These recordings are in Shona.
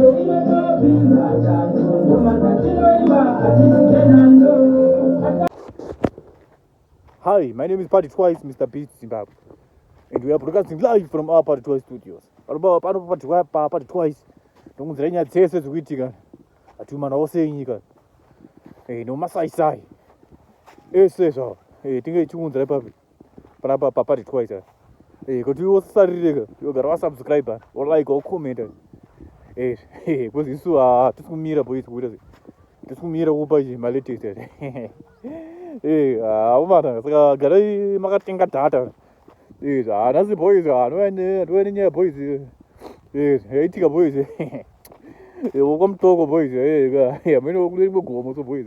Hi, my name is Party Twice, Mr. Beat Zimbabwe. And we are broadcasting live from our Party Twice studios. Panopa pano Party Twice, pa Party Twice. Ndokunzira nyaya dzese dzikuitika. Atumana ose enyika. Eh, no masai sai. Ese zvawo. Eh, tinge tikunzira papi. panapa papati twice eh, eh kuti wosarireka yogara wasubscribe wolike wocommenta eh, eh coz isu hatisi kumira boys kuita sei tisi kumira kupa malatest haumana eh, saka garai makatenga data eh, hanasi boys anouya nenyaya boys yaitika eh, boys wokwamutoko boys amene kurimwe gomo so boys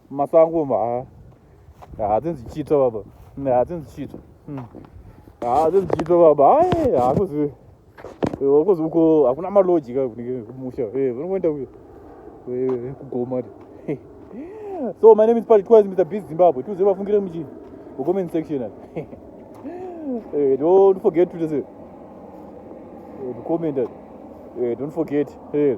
masango umu haa haa dzinzi chito baba haa dzinzi chito hmm. haa dzinzi chito baba hae haa kuzi wakuzi uko hakuna maloji ka kunenge kumusha eh, vanongoenda eh, eh, kugoma so my name is paty twice mr biz zimbabwe tiuze vafungire muchi comment section eh, don't forget to say eh, to comment eh, don't forget eh,